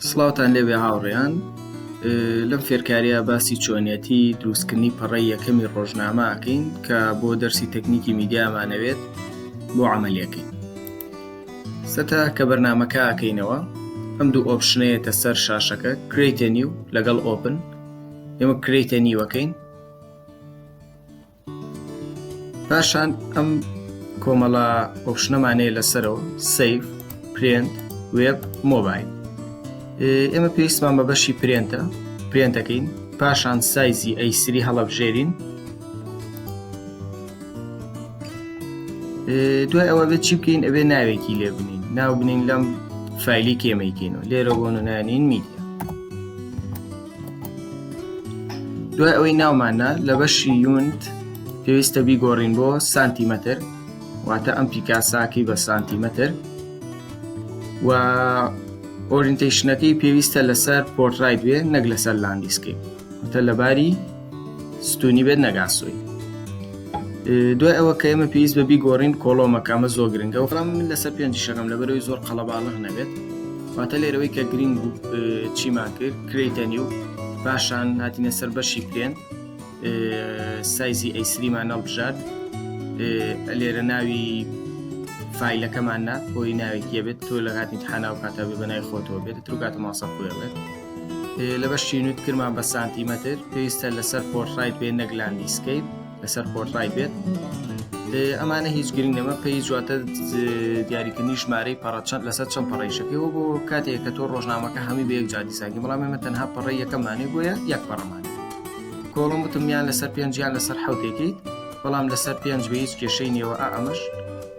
سڵاوتان لێبێ هاوڕێیان لەم فێرکاریە باسی چۆنیەتی دروستکردنی پەڕی یەکەمی ڕۆژنامە ئەکەین کە بۆ دەرسی تەکنیکی میدیامانەوێت بۆ عملیەکەین سەتا کە بەرنمەکە ئەکەینەوە ئەم دوو ئۆپشنەیەتە سەر شاشەکە کریتە نیو لەگەڵ ئۆپن ئێمە کریتە نیوەکەین پاشان ئەم کۆمەڵە ئۆپشنەمانەیە لەسەرەوە سیف پرێنت وێب مۆبایل ئێمە پێویستمان بە بەشی پرێنتە پرێنتەکەین پاشان سایزی ئەیسری هەڵەبژێرین دوای ئەوە بێت چی بکەین ئەبێ ناوێکی لێ بنین ناو بنین لەم فایلی کێمەیکەین و لێرە بۆ نانین میدیا دوای ئەوەی ناوماننا لە بەشی یونت پێویستە بیگۆڕین بۆ سانتیمەتر واتە ئەم پیکاساکەی بە سانتیمەتر و ئۆرینتیشنەکەی پێویستە لەسەر پۆرترای دوێ نەک لەسەر لاندیسکەی وتە لەباری ستونی بێت نەگاسۆی دوای ئەوە کە ئێمە پێویست بە بیگۆڕین کۆڵۆمەکەمە زۆر گرنگە و ڕام من لەسەر پێنج شەکەم لەبەرەوەی زۆر قەڵەباڵغ نەبێت واتە لێرەوەی کە گرنگ بوو چیمان کرد کریتەنی و پاشان هاتینە سەر بەشی پێێن سایزی ئەیسریمان نەڵبژات لێرە ناوی فیلەکەمان نا بۆی ناوێکیە بێت تۆ لە هاتنی حناو کاتە بە بەنای خۆتەوە بێت تروکاتە ماسە خۆێ بێت لە بەشی نوت کرمان بە سانتیمەتر پێویستە لەسەر پۆرتڕای بێ نەک لاندیسکەیت لەسەر پۆرتڕای بێت ئەمانە هیچ گرنگ نەمە پێی جواتە دیاریکردنی ژمارەی پەڕەچەند لەسەر چەند پەڕیشەکەەوە بۆ کاتێک کە تۆ ڕۆژنامەکە هەمی بەیەک جادیساگی بەڵام ئێمە تەنها پەڕی یەکەمانێ بۆیە یەک پەڕەمان کۆڵم وتمیان لەسەر پێنجیان لەسەر حوتێکیت بەڵام لەسەر پێنج بە هیچ کێشەی نێوە ئەمەش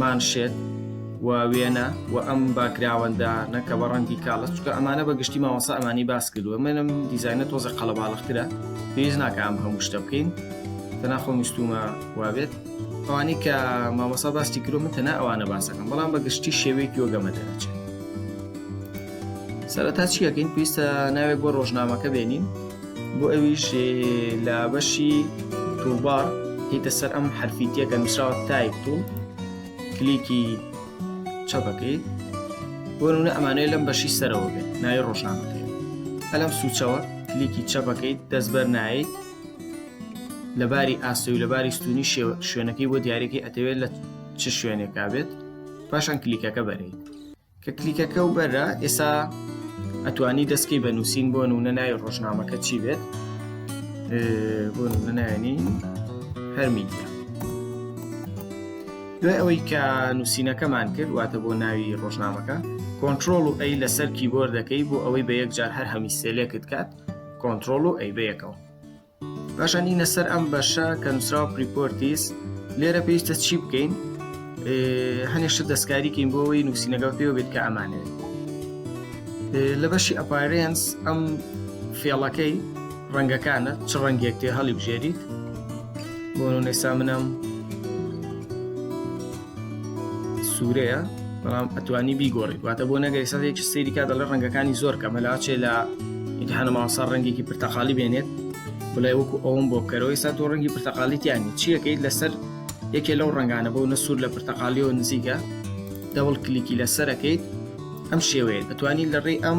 مانشێت و وێنە و ئەم باکگراوەندانە کە بە ڕەنگی کاڵە چکە ئەمانە بە گشتی مامۆسا ئەمانی باس کردووە منم دیزینە تۆزە قەڵەباڵخترە پێویست ناکە ئەم هەموو شتە بکەین تەناخۆ میستومە وابێت ئەوانی کە مامۆسا باستی کرۆ من تەنا ئەوانە باسەکەم بەڵام بە گشتی شێوەیەکی وەگەمە دەچێت سەرەتا چی ئەکەین پێویستە ناوێک بۆ ڕۆژنامەکە بێنین بۆ ئەویش لە بەشی تووبار هیتە سەر ئەم حرفیتیەکە نووسراوە تایپ و کلیکی چەپەکەی بۆ نونە ئەمانەیە لەم بەشی سەرەوە بێت ناوی ڕۆژنامەکەی ئەلم سوچەوە کلیکی چەپەکەیت دەستبەر نایت لەباری ئاسەوی لەباری ستونی شوێنەکەی بۆ دیارێکی ئەتەوێت لە چ شوێنێکا بێت پاشان کلیکەکە بەرێت کە کلیکەکە و بەرە ئێسا ئەتوانی دەستکەی بە نووسین بۆ نوونە ناوی ڕۆژنامەکە چی بێت بۆ نوونەنانی هەرمیدیا دوای ئەوەی کە نووسینەکەمان کرد واتە بۆ ناوی ڕۆژنامەکە کۆنتترۆل و ئەی لەسەر کیبۆردەکەی بۆ ئەوەی بە یەکجار هەر هەمیسێلێکت کات کۆنتترۆل و ئەی بەیەکەوە پاشان دینە سەر ئەم بەشە کە نووسراوە پریپۆرتیس لێرە پێویستە چی بکەین هەنێشتە دەستکاریکەین بۆەوەی نووسینەکە پێوە بێت کە ئەمانێت لە بەشی ئەپارێنس ئەم فێڵەکەی ڕەنگەکانە چ ڕەنگێک تێ هەڵی بژێریت بۆ نێسا منم سورەیە بەڵام ئەتوانی بیگۆڕیت واتە بۆ نەگەی سەدێکی سری کا دەڵێ ڕەنگەکانی زۆر کە مەلاچێ لە ئینتحانە ماوەسا ڕەنگێکی پرتەقالی بێنێت بڵێ وەکو ئەوم بۆ بکەرەوەی سا تۆ ڕەنگی پرتەقالیتیانی چیەکەیت لەسەر یەکێ لەو ڕنگانە بۆ نە سوور لە پرتەقالیەوە نزیکە دەوڵ کلیکی لەسەرەکەیت ئەم شێوەیە ئەتوانی لە ڕێی ئەم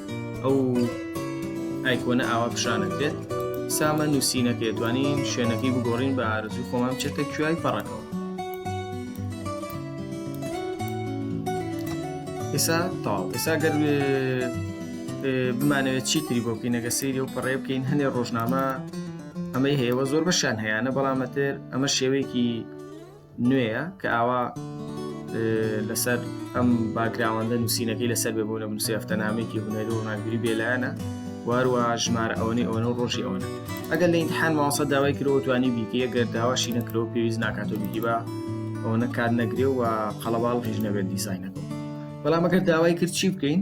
ئەو ئایکۆنە ئاوا پیشانت بێت سامە نووسینەکە توانین شوێنەکەی بگۆڕین بە ئارزوی خۆمان بچێتە کوای پەڕەکەەوە ئێسا تاو ئێسا گەر بمانەوێت چی تری بۆ بکەینەگە سری و پەڕێ بکەین هەنێ ڕۆژنامە ئەمەی هەیەوە زۆر بەشان هەیەە بەڵامەتر ئەمە شێوەیەکی نوێیە کە ئاوا لەسەر ئەم باگراوەندە نووسینەکەی لەسەر بێ بۆ لە بنووسی هەفتەنامێکی هونەری و ڕناگری بێلایەنە واروە ژمار ئەوەی ئەوەنە و ڕۆژی ئەوەنە ئەگەر لە ئینتحان ماوەسە داوای کرەوە توانی بیکە گەر داواشی نەکرەوە پێویست ناکاتۆ بیگی بە ئەوەنە کات نەگرێ و قەڵەباڵ هیچ نەبێت دیزینەکە بەڵام ئەگەر داوای کرد چی بکەین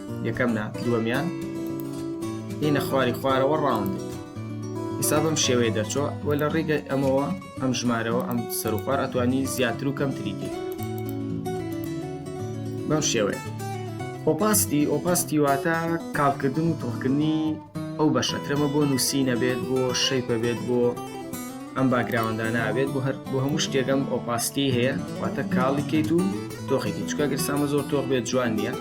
یەکەم نا دووەمیان هینە خواری خوارەوە ڕاوند ئیسا بەم شێوەیە دەرچۆ وە لە ڕێگەی ئەمەوە ئەم ژمارەوە ئەم سەرخوار ئەتوانی زیاتر و کەم تریکی بەم شێوەیە ئۆپاستی ئۆپاستی واتە کاڵکردن و تۆخکردنی ئەو بەشە ترەمە بۆ نووسی نەبێت بۆ شەیپە بێت بۆ ئەم باگراوەندا نابێت بۆ هەر بۆ هەموو شتێکم ئۆپاستی هەیە واتە کاڵی کەیت و تۆخێکی چکە گەرسامە زۆر تۆخ بێت جوان نییە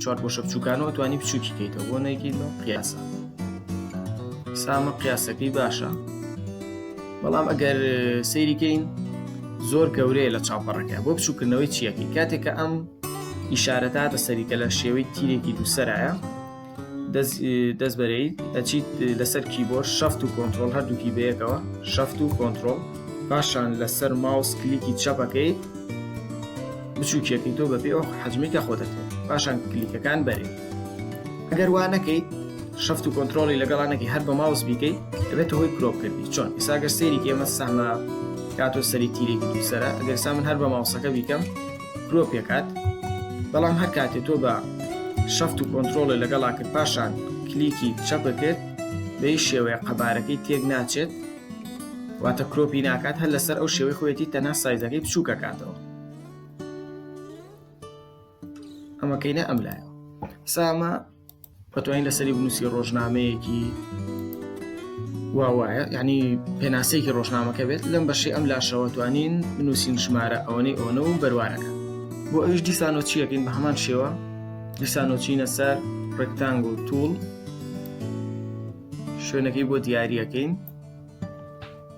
چوار پۆشە بچووکانەوە توانی بچووکی کەیتەوە بۆ نەیکەیت بە قیاسە سامە قیاسەکەی باشە بەڵام ئەگەر سەیریکەین زۆر گەورەیە لە چاپەڕەکە بۆ بچووکردنەوەی چیەکەی کاتێکە ئەم ئیشارەتە بە سەریکە لە شێوەی تیرێکی دووسەرایە دەست بەرەیت ئەچیت لەسەر کیبۆر شەفت و کۆنتترۆل هەردووکی بەیەکەوە شەفت و کۆنتترۆل پاشان لەسەر ماوس کلیکی چەپەکەی بچووکێکی تۆ بەپێ ئەو حەجمی کە خۆ دەکرێت پاشان کلیکەکان بەرێت ئەگەر وا نەکەیت شەفت و کۆنتترۆلی لەگەڵانەکی هەر بە ماوس بیکەیت دەبێت هۆی کرۆپ کردی چۆن ئیساگەر سێری ئێمە سەمە کاتۆ سەری تیرێکی دووسرە ئەگەر سا من هەر بە ماوسەکە بیکەم گرۆ پێکات بەڵام هەر کاتێ تۆ بە شەفت و کۆنتترۆڵێ لەگەڵا کرد پاشان کلیکی چەپەکرد بەی شێوەیە قەبارەکەی تێک ناچێت واتە کرۆپی ناکات هەر لەسەر ئەو شێوەی خۆێتی تەنها سایزەکەی بچووکە کاتەوە ئەمەکەینە ئەم لایە سامە ئەتوانی لەسەری بنووسی ڕۆژنامەیەکی واوایە ینی پێناسەیەکی ڕۆژنامەکە بێت لەم بەشی ئەم لاشەوە توانین بنووسین ژمارە ئەوەی ئەوەنە و بەروارەکە بۆ ئەوش دیسانۆچیەکەین بە هەمان شێوە دیسانۆچینە سەر ڕێکتانگ و توول شوێنەکەی بۆ دیارریەکەین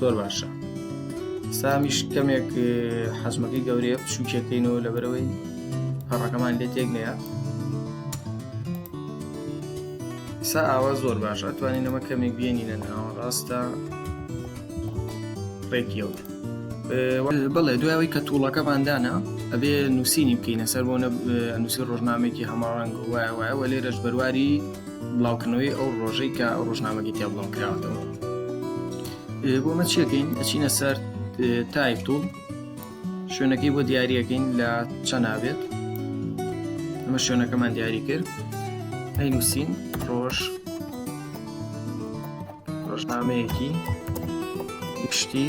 زۆر باشە سامیش کەمێک حەزمەکەی گەورەیە پشوکێکەکەینەوە لە بەرەوەی پەڕەکەمان لێ تێک نەیە سا ئاوا زۆر باش ئەتوانین نەمە کەمێک بێنینە ناوە ڕاستە ڕێکیەوت بڵێ دوایەوەی کە تووڵەکەماندانا ئەبێ نووسینی بکەینە سەر بۆ نووسی ڕۆژنامێکی هەماڕەنگ وایە وایە وە لێرەش بەرواری بڵاوکردنەوەی ئەو ڕۆژەی کە ئەو ڕۆژنامەگەی تیا بڵاو کراوەتەوە بۆ مە چیەکەین ئەچینە سەر تایپ توڵ شوێنەکەی بۆ دیارەکەین لە چەنابێت ئەمە شوێنەکەمان دیاری کرد ئەی نووسین ڕۆژ ڕۆژنامەیەکی گشتی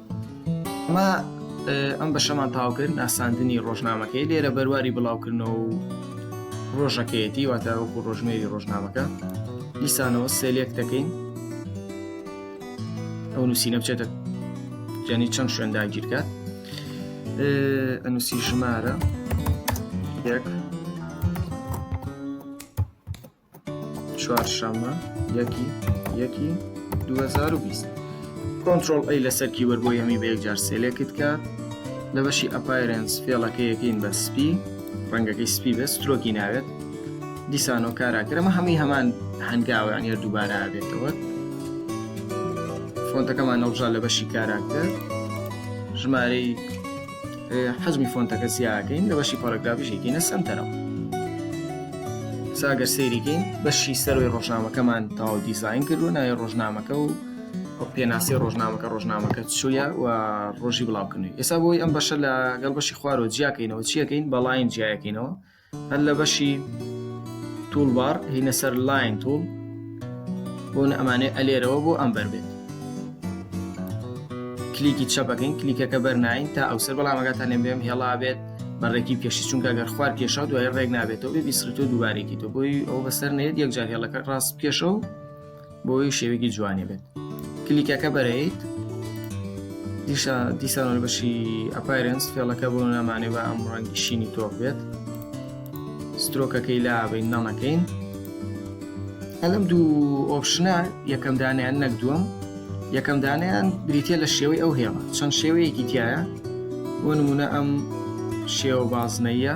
ئەمە ئەم بەشەمان تاوکرد ناساندنی ڕۆژنامەکەی لێرە بەرواری بڵاوکردنەوە و ڕۆژەکەیەتی واتاوەکو ڕۆژمێری ڕۆژنامەکە دیسانەوە سێلێک دەکەین ئەو نووسینە بچێتە جانی چەند شوێن داگیرکات ئەنووسی ژمارە یەک چوارشەممە یەکی یەکی 2020 کۆنتترۆل ئەی لەسەر کیبەر بۆ یەمی بە یەکجار سێلێکت کات لە بەشی ئەپایرنس فێڵەکە یەکەین بە سپی ڕەنگەکەی سپی بێت سترۆکی ناوێت دیسانۆ کاراکرەمە هەمووی هەمان هەنگاویان یە دووبارە بێتەوە فۆنتەکەمان نەڵژا لە بەشی کاراکتەر ژمارەی حەجمی فۆنتەکە زیاکەین لە بەشی پۆرەگرافیشێکینە سنتەرەوە ساگەر سەیریکەین بەشی سەروی ڕۆژنامەکەمان تاو دیزین کردو ناوی ڕۆژنامەکە و پێناسی ڕۆژنامەکە ڕۆژنامەکە چویە و ڕۆژی بڵاوکردنی ئێستا بۆی ئەم بەشە لەگەڵ بەشی خوارەوە جیاکەینەوە چیەکەین بەڵین جیاکەینەوە هەر لە بەشی توول بار هینە سەر لاین توول بۆن ئەمانێ ئەلێرەوە بۆ ئەم بەر بێت کلیکی چەپەکەین کلیکەکە بەرناین تا ئەو سەر بەڵامەکەتان لێ بێم هێڵا بێت بەڕێکی پێشی چونکە گەر خوار کێشا دوای ڕێک نابێتەوە بێ بیسرتۆ دووبارێکی تۆ بۆی ئەو بەسەر نێت یەکجار هێڵەکە ڕاست کێشە و بۆی شێوێکی جوانی بێت کلیکەکە بەرەیت دیشە دیسانۆل بەشی ئەپایرنس فێڵەکە بۆ نامانێ بە ئەم ڕەنگی شینی تۆپ بێت سترۆکەکەی لابین نەڵەکەین ئەلم دوو ئۆپشنە یەکەم دانیان نەک دووەم یەکەم دانیان بریتە لە شێوەی ئەو هێڵە چەند شێوەیەکی تایە بۆ نمونە ئەم شێوە بازنەیە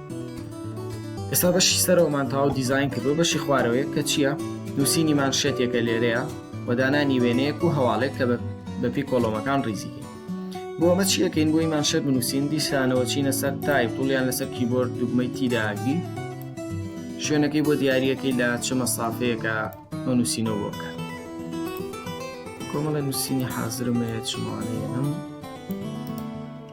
ئێستا بەشی سەرەوەمان تاو دیزین کردو بەشی خوارەوەیە کە چییە نووسینی مان شێتێکە لێرەیە و دانانی وێنەیەک و هەواڵێک کە بەپی کۆڵۆمەکان ڕیزی بۆ ئەمە چیەکەین بۆی مان شێت بنووسین دیسانەوە چینە سەر تای پڵیان لەسەر کیبۆرد دوگمەی تیداگری شوێنەکەی بۆ دیارریەکەی لە چ مەسافەیەەکە ئەو نووسینەوە بۆکە کۆمەڵە نووسینی حازرمەیە چمانەیە ئەم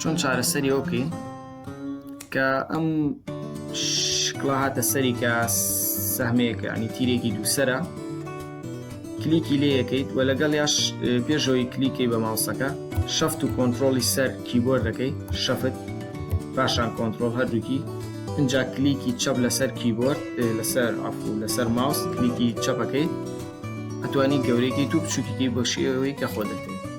چۆن چارەسەری ئەو بکەین کە ئەم شکڵا هاتە سەری کە سەهمەیەکە ینی تیرێکی دووسرە کلیکی لێ یەکەیت و لەگەڵ یاش پێشەوەی کلیکەی بە ماوسەکە شەفت و کۆنتترۆلی سەر کیبۆر دەکەی شەفت پاشان کۆنتترۆل هەردووکی اینجا کلیکی چەپ لەسەر کیبۆرد لەسەر ئەفو لەسەر ماوس کلیکی چەپەکەی ئەتوانی گەورەێکی تو بچووکیی بۆ شێوەی کە خۆ دەکەیت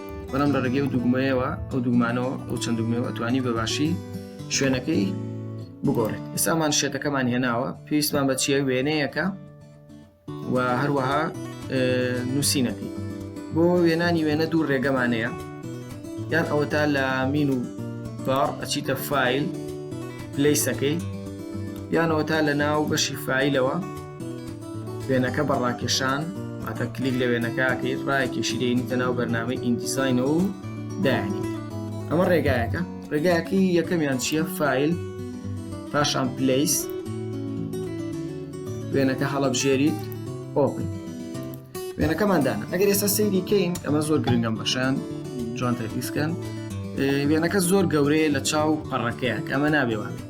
بەڵام لە ڕێگەی و دوگمەیەوە ئەو دوگمانەوە ئەو چەند دوگمەوە توانی بەباشی شوێنەکەی بگۆڕێت ئێسامان شێتەکەمان هێناوە پێویستمان بە چیە وێنەیەەکە و هەروەها نووسینەکەی بۆ وێنانی وێنە دوو ڕێگەمانەیە یان ئەوەتا لە مین و باڕ ئەچیتە فیل پلیسەکەی یانەوە تا لە ناو بەشی فیلەوە وێنەکە بە ڕاکێشان واتە کلیک لە وێنەکە ئەکەیت ڕایەکێشی دەینیتە ناو بەرنامەی ئیندیزینەوە و دایانی ئەمە ڕێگایەکە ڕێگایەکەی یەکەمیان چییە فیل پاشان پلیس وێنەکە هەڵەبژێریت ئۆپن وێنەکەماندانە ئەگەر ئێستا سەیری کەین ئەمە زۆر گرنگم بەشان جوان تەفیسکەن وێنەکە زۆر گەورەیە لە چاو پەڕەکەیە ئەمە نابێوانێت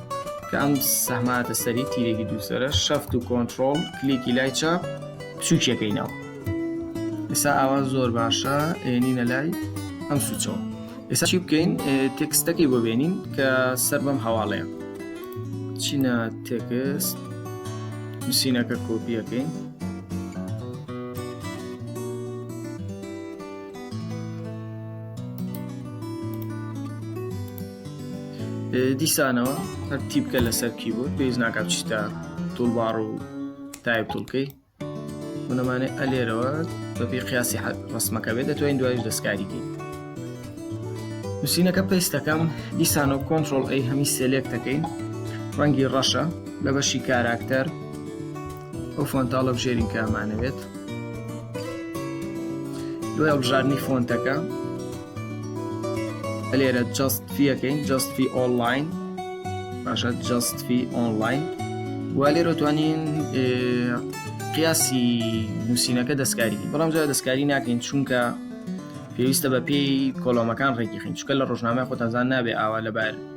کە ئەم سەهماتە سەری تیرێکی دووسرە شەفت و کۆنتترۆل کلیکی لای چاپ بچووکیەکەینەوە ئێسا ئاوا زۆر باشە ئێنینە لای ئەم سوچەوە ئێسا چی بکەین تێکستەکەی بۆ بێنین کە سەر بەم هەواڵەیە چینە تێکست نووسینەکە کۆپیەکەین دیسانەوە هەر تیپکە لەسەر کی بوو پێویست ناکات چیتە توڵباڕ و تایب توڵکەی منەمانێ ئەلێرەوە بەپی قیاسی حەت ڕسمەکە بێت دەتوانین دوایش دەستکاریکەین نووسینەکە پێستەکەم دیسانەوە کۆنتترۆل ئەی هەمی سێلێک دەکەین ڕەنگی ڕەشە لە بەشی کاراکتەر ئەو فۆنتە هەڵەبژێرین کە ئەمانەوێت دوای هەڵبژاردنی فۆنتەکە لێرە جست فیەکەین جست فی ئۆنلاین باشە جست فی ئۆنلاین و لێرە توانین قیاسی نووسینەکە دەستکاری بەڵام زۆر دەستکاری ناکەین چونکە پێویستە بە پێی کۆلۆمەکان ڕێکیخین چکە لە ڕۆژنامە خۆتانزان نابێ ئاوا لەبار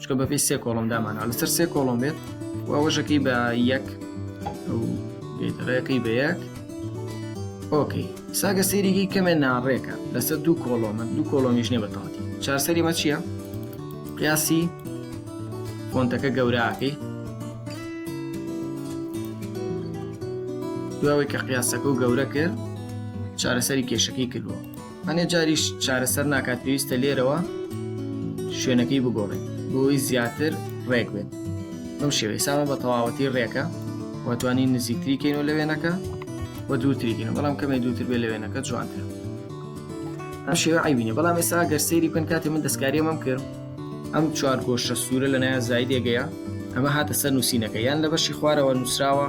چکە بەپی سێ کۆڵم دامانەوە لەسەر سێ کۆڵم بێت و ئەوەشەکەی بە یەک بێتەڕەکەی بە یەک ئۆکەی ساگە سێریگەی کەمێ ناڕێکە لەسەر دوو کۆڵۆمە دوو کۆڵۆمیش نیە بەتەواتی چارسەری مە چییە؟ قیاسی فۆنتەکە گەوراکەی دواوەی کە قیاسەکە و گەورە کرد چارەسەری کێشەکەی کردووە ئەنێ جاریش چارەسەر ناکات پێویستە لێرەوە شوێنەکەی بگۆڕێت بۆی زیاتر ڕێک بێت بەم شێوەی سامە بە تەواوەتی ڕێکە واتوانین نزیکتری کەین و لە وێنەکە و دووتریگەن بەڵام کەمێ دووتر بێ لە وێنەکە جوانتر ئەم شێوە عیبینە بەڵام ئێستا گەر سەیری بکەن کاتی من دەستکاری ئەمەم کرد ئەم چوار گۆشە سوورە لە نایە زایدێگەیە ئەمە هاتە سەر نووسینەکە یان لە بەشی خوارەوە نووسراوە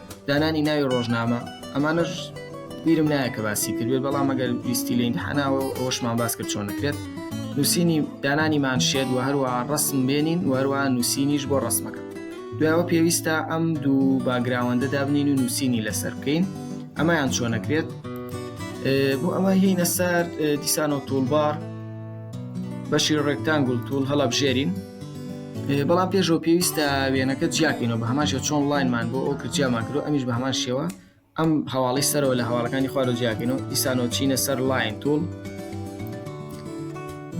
دانانی ناوی ڕۆژنامە ئەمانەش بیرم نایە کە باسی کردێت بەڵام ئەگەر ویستی لە ئینتحاناوە ئەوەشمان باس کرد چۆن نەکرێت نووسینی دانانی مانشێت و هەروە ڕسم بێنین وەروە نووسینیش بۆ ڕسمەکە دوایەوە پێویستە ئەم دوو باگراوەندە دابنین و نووسینی لەسەر بکەین ئەمەیان چۆن نەکرێت بۆ ئەمە هینە سەر دیسان و توولبار بەشی ڕێکتانگول توول هەڵبژێرین بەڵام پێشەوە پێویستە وێنەکە جیاکەینەوە بە هەمان شێ چۆن لاینمان بۆ ئەو کرجیامان کرد ئەمیش بە هەمان شێوە ئەم هەواڵی سەرەوە لە هەواڵەکانی خوارەوە جیاکەینەوە ئیسانۆ چینە سەر لاین تول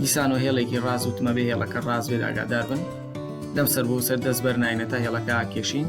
دیسانۆ هێڵێکی ڕاز و تمە بێ هێڵەکە ڕاز بێت ئاگادار بن لەم سەر بۆ سەر دەست بەرناینە تا هێڵەکە کێشین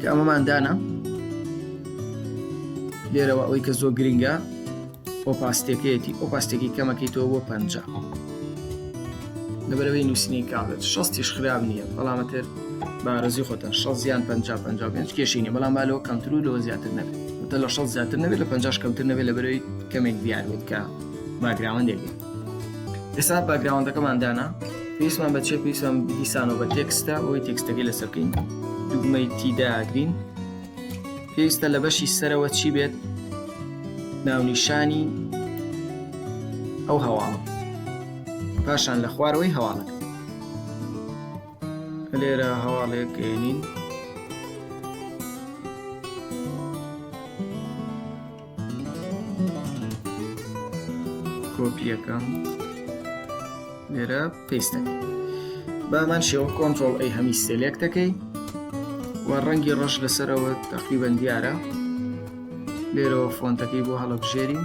کە ئەمەمان دانا لێرەوە ئەوەی کە زۆر گرنگە ئۆپاستێکەیەتی ئۆپاستێکی کەمەکەی تۆ بۆ پ لەبەرەوەی نووسنی کاڵێت شەستیش خراپ نییە بەڵامەتر بارزی خۆتان شە زیان 5 کێشینە بەڵام بالەوە کەمتر و لەوە زیاتر نەبێت تە لە شە زیاتر نەبێت لە 50 کەمتر نەبێت لە بەرەوەی کەمێک دیار بێت کە باگراوەندێک ئێستا باگراوندەکەمان دانا پێویستمان بە چێ پێویستمان دیسانەوە بە تێکستە ئەوی تێکستەکەی لەسەر بکەین دوگمەی تیداگرین پێویستە لە بەشی سەرەوە چی بێت ناونیشانی ئەو هەواڵە پاشان لە خوارەوەی هەواڵەکە لێرە هەواڵێک گەێنین کۆپیەکەم لێرە پێستەکە بامان شێوە کۆنتۆل ئەی هەمی سێلێک دەکەی و ڕەنگی ڕەش لەسەرەوە تەقریبەن دیارە لێرەوە فۆنتەکەی بۆ هەڵەبژێرین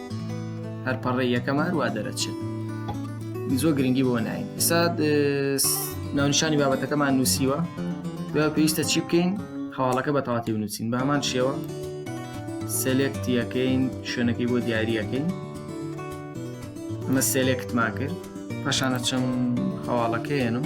هەر پەڕێ یەکەم هەر وا دەرەچێت زۆر گرنگی بۆ ناین سات ناونشانی بابەتەکەمان نووسیوە دوای پێویستە چی بکەین هەواڵەکە بە تەواتی بنووسین بە هەمان شێوە سەلێکتیەکەین شوێنەکەی بۆ دیاریەکەین ئەمە سەلێکتمان کرد پاشانە چەم هەواڵەکەیەنم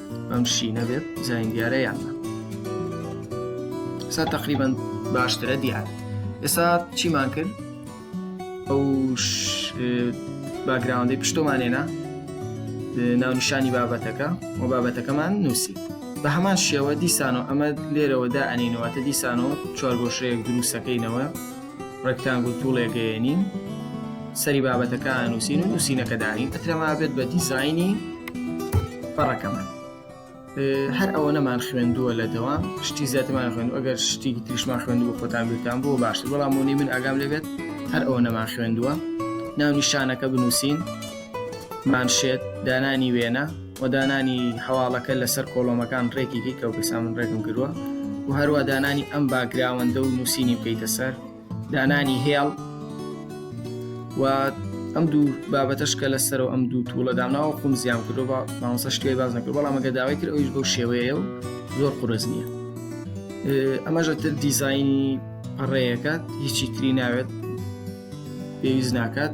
ئەم شینە بێت جاین دیارە یان سا تقریبان باشترە دیار ئێستا چیمان کرد ئەو باگراوندی پشتۆمانێنا ناونیشانی بابەتەکە و بابەتەکەمان نووسی بە هەمان شێوە دیسانەوە ئەمە لێرەوەدا ئەنینەوەتە دیسانەوە چوارگۆشەیەک دروستەکەینەوە ڕێکتانگول توڵێ گەیەنین سەری بابەتەکە ئانووسین و نووسینەکە دانین ئەترەما بێت بە دیزایانی پەڕەکەمان هەر ئەوە نەمان خوێندووە لە دەوام شتی زیاترمان خوێند ئەگەر شتێکی تریشمان خوێند بۆ خۆتان بیرتان بۆ باشتر بەڵام بۆنی من ئاگام لەبێت هەر ئەوە نەمان خوێندووە ناو نیشانەکە بنووسین مانشێت دانانی وێنە و دانانی هەواڵەکە لەسەر کۆڵۆمەکان ڕێکی کەی کاک بەسام من ڕێکم کردووە و هەروە دانانی ئەم باکگراوەندە و نووسینی بکەیتە سەر دانانی هێڵ و ئەم دوو بابەتەش کە لەسەر و ئەم دوو توڵە دامناوە قوم زیام کردو بە ماوەسە شتێ باز نەکرد بەڵام ئەگە داوای کرد ئەویش بەو شێوەیە و زۆر قرس نییە ئەمەژە تر دیزینی پەڕەیەکات هیچی تری ناوێت پێویست ناکات